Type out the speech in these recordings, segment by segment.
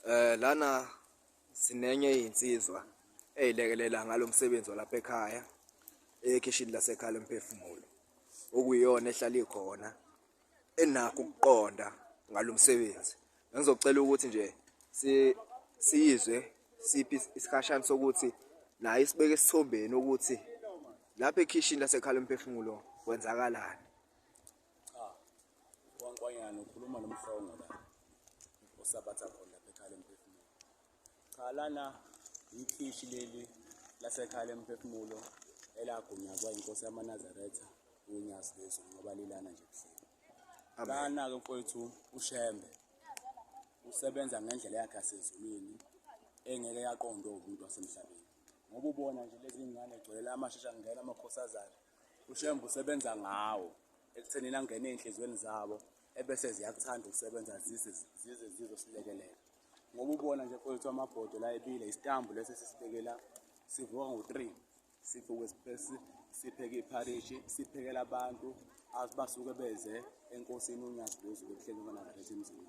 Eh lana sinenye insizwa eyilekelela ngalo msebenzi walapha ekhaya ekhishini lasekhaya lomphefumulo okuyiyona ehlala ikhona enakho ukuqonda ngalo msebenzi ngizocela ukuthi nje si siyizwe siphi isikhashana sokuthi naye isibeke esithombeni ukuthi lapha ekhishini lasekhaya lomphefumulo kwenzakalani Cha. Wankwanyana ukhuluma nomhlongo la. Osabatha khona lapha ekhaya emphefumulo. Cha lana ikhishi leli lasekhaya emphefumulo elagunyazwa inkosi yamaNazaretha unyazi lezwe ngoba lilana nje kuhleli. Lana-ke mfowethu uShembe usebenza ngendlela yakhe yasezulwini engeke yaqondwa umuntu wasemhlabeni ngoba ubona nje lezi ngane gcwele amashesha ngena amakhosazana UShembe usebenza ngawo ekuthenini angene ey'nhliziyweni zabo ebese ziyakuthanda ukusebenza zize zize zizosilekelela ngoba ubona nje kwethu amabhodo la ebile isitambu lesi sisibekela sivuka ngo-three sivuke sipesi sipheke ipharishi siphekela abantu basuke beze enkosini unyazi lwezulu kuhlelwe kanakathatha emzini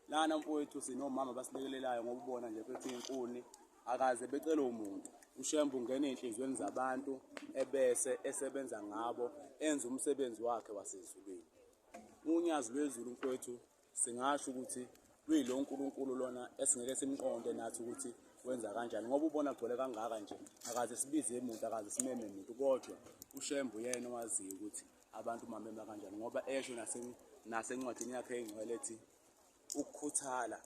Lana mfowethu sinomama abasilekelelayo ngoba ubona nje phethe inkuni akaze becele umuntu ushembe ungena ezinhlizweni zabantu ebese esebenza ngabo enza umsebenzi wakhe wasezulwini unyazi lwezulu mfowethu singasho ukuthi luyilo uNkulunkulu lona esingeke simqonde nathi ukuthi wenza kanjani ngoba ubona gcwele kangaka nje akaze sibize umuntu akaze simeme umuntu kodwa ushembe uyena owaziyo ukuthi Abantu umamema kanjani ngoba esho nasencwadini yakhe engcwele ethi ukukhuthala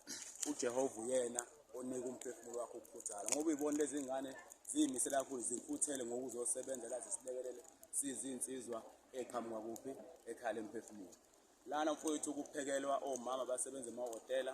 uJehova uyena onika umphefumulo wakho ukukhuthala ngoba uyibona lezi ngane ziyimisele kakhulu zikhuthele ngokuzosebenza la zisilekelele sizinsizwa eqhamuka kuphi ekhaya lemphefumulo lana mfowethu kuphekelwa omama basebenza emahhotela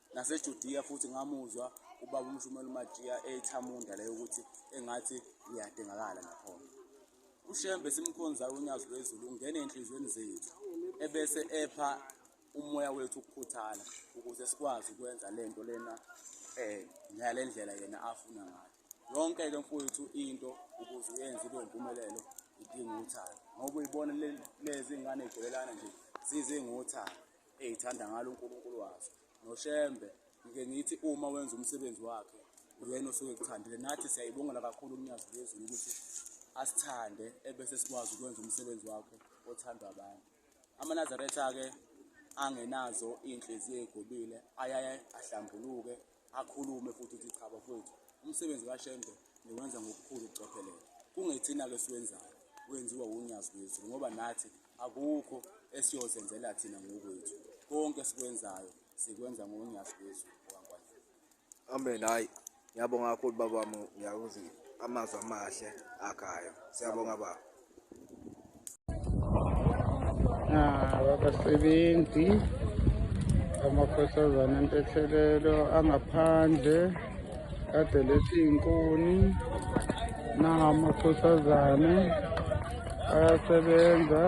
NaseJudiya futhi ngamuzwa ubaba umshumela uMajiya ethamunda leyo ukuthi engathi uyadingakala nakhona. UShembe simkhonzayo unyazi lwezulu ungena enhlizweni zethu ebese epha umoya wethu ukukhuthala ukuze sikwazi ukwenza lento lena eh ngalendlela yena afuna ngayo. Yonke ke mfowethu into ukuze uyenze ibe impumelelo idinga uthando ngoba uyibona lezi ngane igelelana nje zize ngothando eyithanda ngalo uNkulunkulu wazo noShembe ngike ngithi uma wenza umsebenzi wakhe uyena osuke ekuthandile nathi siyayibongela kakhulu uNyazi lezulu ukuthi asithande ebese sikwazi ukwenza umsebenzi wakhe othandwa abantu amanazaretha-ke angenazo iy'nhliziyo ey'gobile ayaye ahlambuluke akhulume futhi ukuthi cha bafowethu umsebenzi kashembe niwenza ngokukhulu ukucophelela kungethina-ke siwenzayo wenziwa wunyazi lwethu ngoba nathi akukho esiyozenzela thina ngokwethu konke sikwenzayo sikwenza ngonyazi lwethu amen hayi ngiyabonga kakhulu babami ngiyakuzi amazwi amahle akhayo siyabonga baba abasebenzi amakhosazana entethelelo angaphandle kade lethi inkuni nangamakhosazane ayasebenza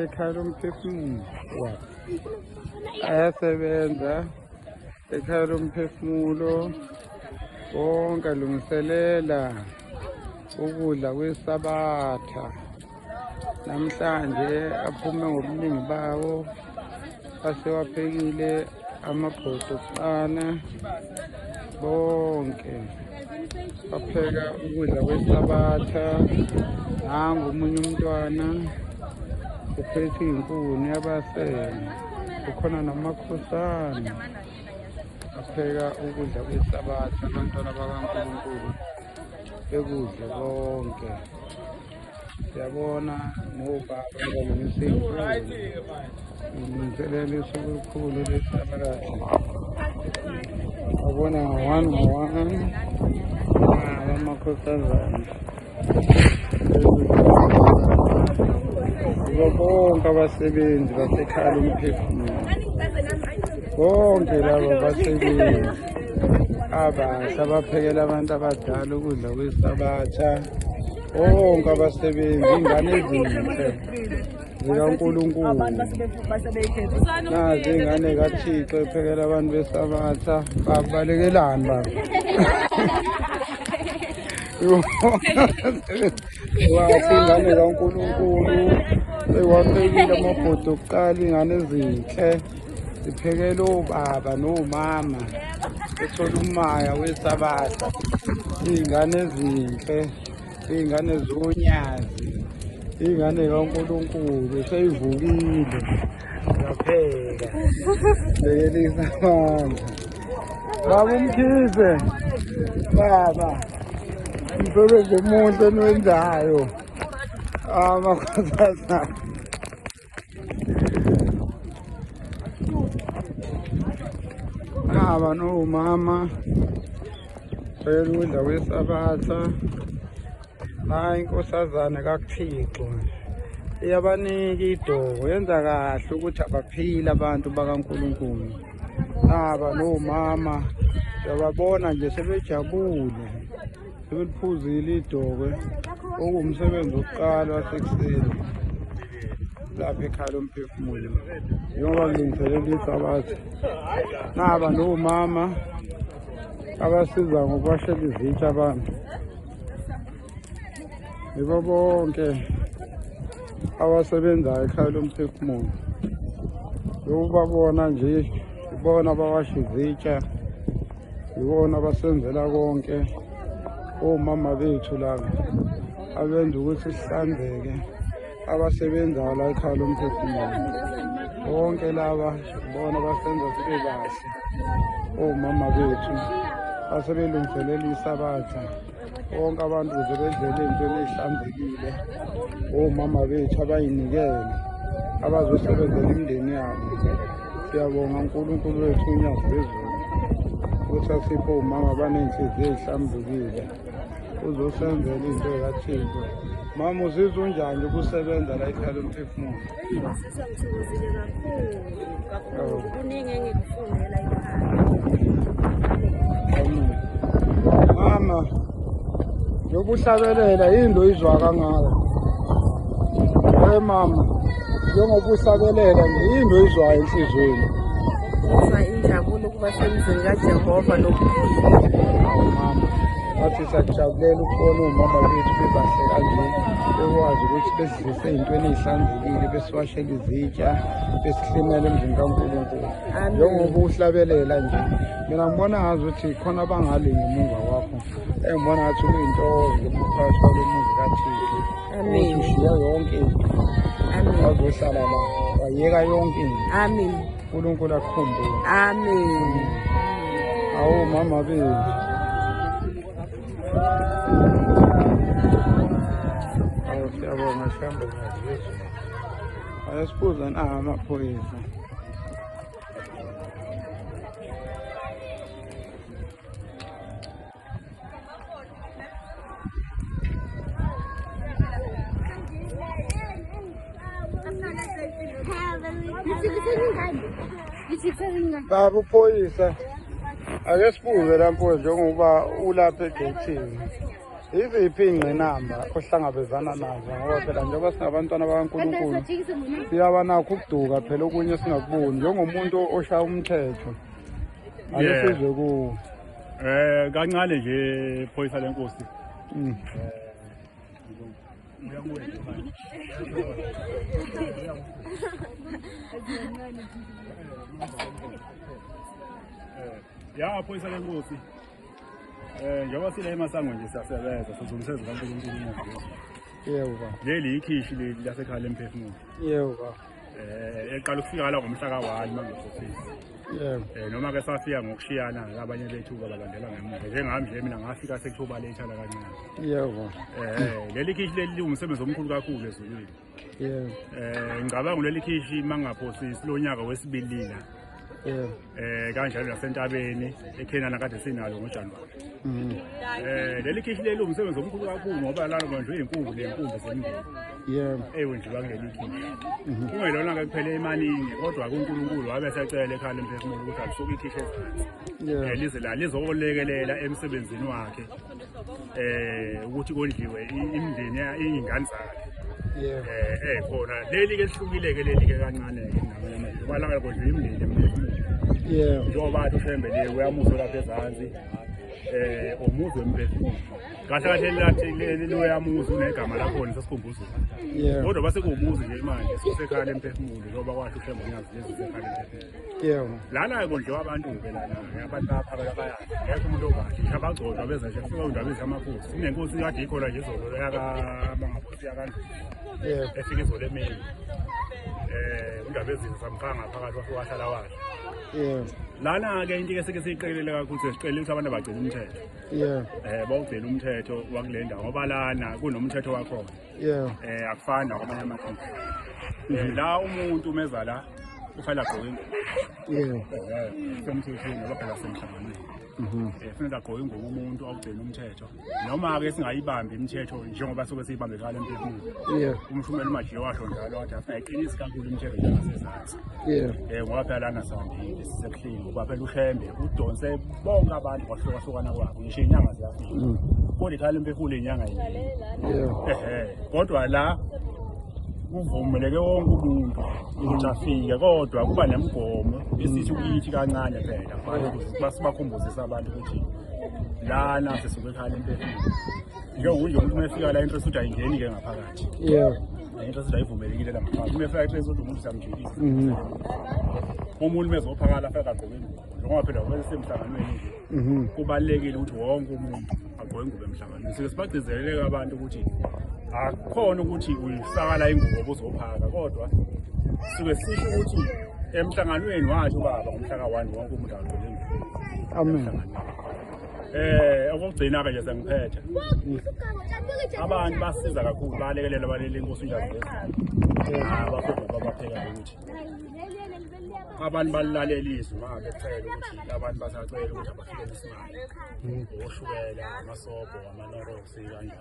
ekhala umphefumulo wakhe ayasebenza ekhala umphefumulo wonke alungiselela ukudla kwesabatha namhlanje aphume ngobuningi bawo asewaphekile amabhodo kuqala bonke bapheka ukudla kwesabatha nangu omunye umntwana uphethe inkuni yabasele kukhona namakhosana apheka ukudla kwesabatha abantwana bakankulunkulu bekudle konke siyabona ngoba ngilungiselelisa olukhulu lesiphakathi abona ngo-one ngo-one abamakhohlazana bonke abasebenzi basekhala umphefumulo bonke laba basebenzi abasha baphekela abantu abadala ukudla kwesabatsha bonke abasebenzi ingane ezinhle zikaNkulunkulu nazi ingane kaThixo ephekela abantu besabatha babalekelani baba Wathi ingane kaNkulunkulu ewaphekile amabhuti okuqala ingane ezinhle ziphekele obaba nomama ethola umaya wesabatha iy'ngane ezinhle iy'ngane zonyazi iy'ngane kaNkulunkulu seyivukile Ngiyapheka. Bekelisa manje. Baba umkhize. Baba. Umsebenzi omuhle enwenzayo. Amakhosazana. Baba no mama. Beyeludla wesabatha. hayi inkosazane kakuthixo iyabanika idoko yenza kahle ukuthi abaphile abantu bakankulunkulu naba nomama uyababona nje sebejabule sebeliphuzile idokwe okuwumsebenzi wokuqala wasekuseni lapha ekhala umphefumulo njengoba kulungiselela isabatha naba nomama abasiza ngokubashela izitsha abantu yibo bonke abasebenzayo ekhaya lomphefumulo yokubabona nje ibona abawasha izitsha yibona abasenzela konke omama bethu laba abenza ukuthi sihlanzeke abasebenzayo la ekhaya lomphefumulo bonke laba bona basenza sibe kahle omama bethu asebelungiselela isabatha bonke abantu kuze bedlele entweni ehlanzekile omama bethu abayinikele abazosebenzela imindeni yabo siyabonga unkulunkulu wethu unyazi lwezulu ukuthi asiphe omama abaney'nhliziyo ey'hlambukile uzosenzela into ekathixo mama uzizwa unjani ukusebenza la ikhale umphefumulo ngizizwa ngithokozile kakhulu kakhulu kuningi engikufundela mama yokuhlabelela yini lo izwa kangaka we mama njengoba uhlabelela nje yini lo izwayo enhliziyweni Basemzini kaJehova nokuphila. Awu mama, wathi sakujabulela ukubona umama wethu bebahle kanje bekwazi ukuthi besidlise ey'ntweni ey'hlanzekile besiwashela izitsha besihlimela emzini kaNkulunkulu njengoba uhlabelela nje mina ngibona ngazi ukuthi khona abangale ngemuva kwakho engibona ngathi kuyintokozo lokuphakathi kwalo muzi kathixo ukuthi ushiya yonke into wazohlala la wayeka yonke into uNkulunkulu akukhumbule amen awu mama bethu awu siyabonga sihambe ngazizwe ayasibuza na amaphoyisa baba uphoyisa ake sibuze la mfowethu njengokuba ulapha egethini yiziphi iy'ngqinamba ohlangabezana nazo ngoba phela njengoba singabantwana bakankulunkulu siyaba nakho ukuduka phela okunye singakuboni njengomuntu oshaya umthetho ake sizwe kuwo Eh kancane nje phoyisa lenkosi. Mm. Ya phoyisa lenkosi. Eh njengoba sile emasango nje siyasebenza sizungise zikaNkulunkulu. Yebo ba. Leli ikhishi leli lasekhaya lemphefumulo. Yebo ba. eh eqala ukufika la ngomhla ka-1 mangifofisa yebo eh noma ke safika ngokushiyana abanye bethu balandela ngemuva njengami nje mina ngafika sekuthuba lethala kancane yebo eh leli khishi leli liwumsebenzi omkhulu kakhulu ezulwini yebo eh ngicabanga leli khishi mangaphosisi lonyaka wesibili la yebo eh kanjalo nasentabeni eKenana kade sinalo ngoJanuary mm. eh leli khishi leli umsebenzi omkhulu kakhulu ngoba lalo manje uyinkungu lenkungu zemndeni yeah ewenziwa kuleli khishi mm-hmm. kungelona ke kuphele imaningi kodwa kuNkulunkulu wabe secela ekhanda emphefumulo ukuthi asuke ikhishi ezansi yeah eh, lize la lizolekelela emsebenzini wakhe eh ukuthi kondliwe imndeni ingane zakhe eh eh khona leli ke lihlukile ke leli ke kancane ke ngamanye amazwi ngoba langa kondliwe imndeni emningi yeah njengoba athi ushembe le uyamuso lapha ezansi eh umuzi wemphefumulo kahle kahle lathi leli loyamuzi unegama lakhona sesikhumbuzo kodwa base kuwumuzi nje manje sisekhaya lemphefumulo njengoba kwasho ushembe nyazi lezi zekhaya lemphefumulo yebo lana kondliwa abantu ke lana abantu lapha bayaya ngeke umuntu obantu abagcotshwa beza nje kufika undaba ezamakhosi sinenkosi kade ikhona nje izolo yaka mangakosi yakandlu yebo efika izolo emini eh undaba ezini samqanga phakathi wafika wahlala washo yebo lana ke into ke sike siyiqekelele kakhulu sesiqelela ukuthi abantu abagcina umthetho yebo eh bawugcina umthetho wakulenda ngoba lana kunomthetho wakhona yeah eh akufani nakwamanye amakhaya eh, la umuntu umeza la ufanele agqoke ingubo yeah eh, semthethweni ngoba phela semhlanganweni mhm. eh, kufanele agqoke ingubo umuntu awugcina umthetho noma-ke singayibambi imithetho njengoba soke siyibambekala emphefumulweni umshumela umajiye washo njalo wathi afuna iqinisi kakhulu imithetho njengasezansi Yeah. Eh ngwaphela sandile sisebuhlungu kwaphela ushembe udonse bonke abantu kwahlukahlukana kwabo ngisho inyanga ziyafika. Mm. Kodwa ikhala impefula inyanga yini. Yeah. Eh kodwa la kuvumeleke wonke umuntu ukuthi afike kodwa kuba nemigomo esithi ukithi kancane phela basibakhumbuzisa abantu ukuthi lana sesibekhala impefula njengokunje umuntu uma efika la into esuthi ayingeni-ke ngaphakathi yeah Into sidayivumelekile la mkhaya. Uma efika eklesi umuntu usamjikisa. Mhm. Umuntu mezophakala afika agqoke ingubo. Njengoba phela kwese semhlanganweni nje. Mhm. Kubalekile ukuthi wonke umuntu agqoke ingubo emhlanganweni. Sike sibagcizelele abantu ukuthi akukhona ukuthi uyifakala ingubo obuzophaka kodwa suke sisho ukuthi emhlanganweni washo baba ngomhla ka-one wonke umuntu agqoke ingubo amen Eh okugcina ke nje sengiphethe. Abantu basiza kakhulu balekelela balele inkosi unjalo. Ah bafuna babapheka ukuthi. Abantu balalela izwi manje kucela ukuthi abantu basacela ukuthi abafike isimali. Oshukela, amasobho, amanorosi kanjalo.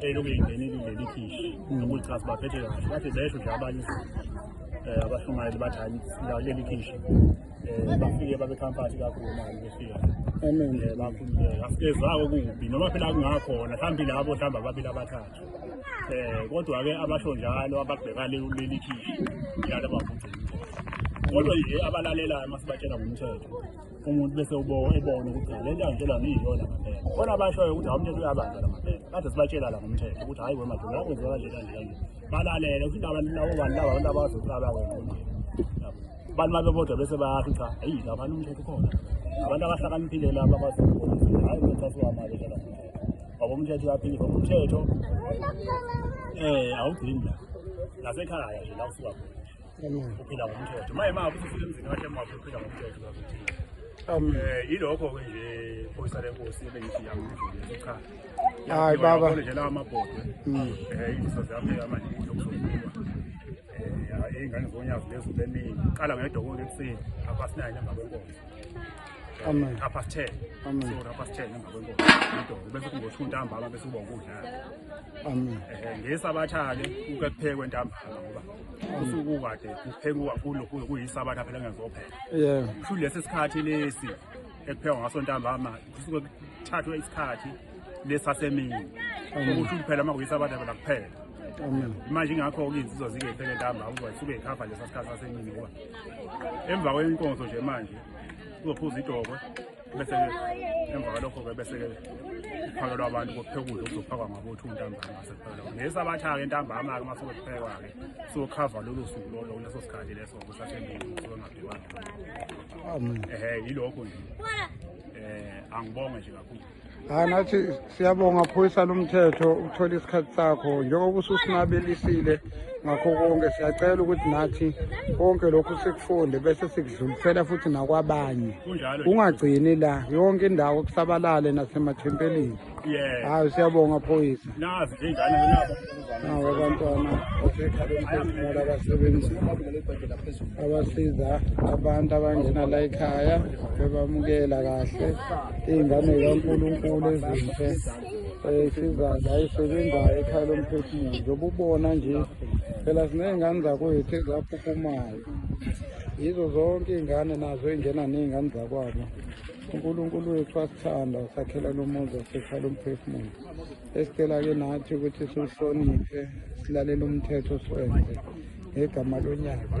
eloku lingenile leli khishi nokulichaza baphethe kahle bathi besho nje abanye um abashumayeli bathi hayi leli khishi um bafike babekhamphathi kakhulu mali befika amen bakhululeka asikezako kubi noma phela kungakhona mhlawumbe labo mhlawumbe ababili abathathu um kodwa-ke abasho njalo ababheka leli khishi njalo abavugcini kodwa nje abalalelayo uma sibatshela ngomthetho umuntu bese uboka ebona ukuthi le nto angitshelwa ngiyiyona ngempela khona abashoyo ukuthi awumthetho uyabanjwa la ngempela kade sibatshela la ngomthetho ukuthi hhayi wemadoda yakwenziwa kanje kanje kanje balalele futhi abantu labo bantu laba abantu abazohlala wena abantu babe bodwa bese bayasho cha eyi labani umthetho khona abantu abahlakaniphile laba abazokubonisa hhayi umthetho asiwamali la ngoba umthetho uyaphile ngoba umthetho um awugcini la nasekhaya nje la usuka khona uphila ngomthetho maye mama ukuthi ufike emzini wakhe mama uphila ngomthetho uzakuthini um yilokho-ke nje phoyisa lenkosi ebengithi yamdlulisa cha hayi baba nje lawa mabhodwe um mm. eh, iziso zami amanje yokusokuwa eh, ingane zonyazi lezo beningi qala ngedokolo ekuseni abasinayo nemva kwenkonzo Amen. Half past 10. Amen. So half past 10 emva kwenkonzo. Idolo bese kungothi untambama bese uba ukudlala. Amen. Eh ngesabatha ke uke kuphekwe ntambama ngoba usuku kade kuphekwa kakhulu kuyisabatha phela ngezophela yeah kusho lesi sikhathi lesi ekuphekwa ngaso ntambama kusuke kuthathwe isikhathi lesasemini ukuthi kuphela uma kuyisabatha phela kuphela manje ingakho-ke izinsizwa zikephele ntamba ukuba suke yikhava lesa sikhathi sasemini ngoba emva kwenkonzo nje manje uzophuza idokwe bese emva kwalokho-ke bese-ke kuphakelwa abantu kokuphekudla okuzophakwa ngabothu ntambama ngasephela ngesi abathaka entambama-ke uma sokuphekwa-ke sokhava lolo suku lolo kuleso sikhathi leso kusasembili sokungabhiwani ehe yilokho nje um angibonge nje kakhulu hayi nathi siyabonga phoyisa lomthetho ukuthola isikhathi sakho njengoba ususinabelisile ngakho konke siyacela ukuthi nathi konke lokhu sikufunde bese sikudlulisela futhi nakwabanye ungagcini la yonke indawo kusabalale nasemathempelini hayi siyabonga phoyisa nawo abantwana basekhalemfula abasebenzi abasiza abantu abangena la ekhaya bebamukela kahle iy'ngane kankulunkulu ezinhle esizayo ayisebenzayo ekhaya lomphefumulo njengoba ubona nje phela siney'ngane zakwethu ezaphuphumayo yizo zonke iy'ngane nazo ey'ngena ney'ngane zakwabo unkulunkulu wethu asithanda usakhela lomuzi wasekhaya lomphefumulo esicela ke nathi ukuthi siwuhloniphe silalele umthetho siwenze ngegama lonyaka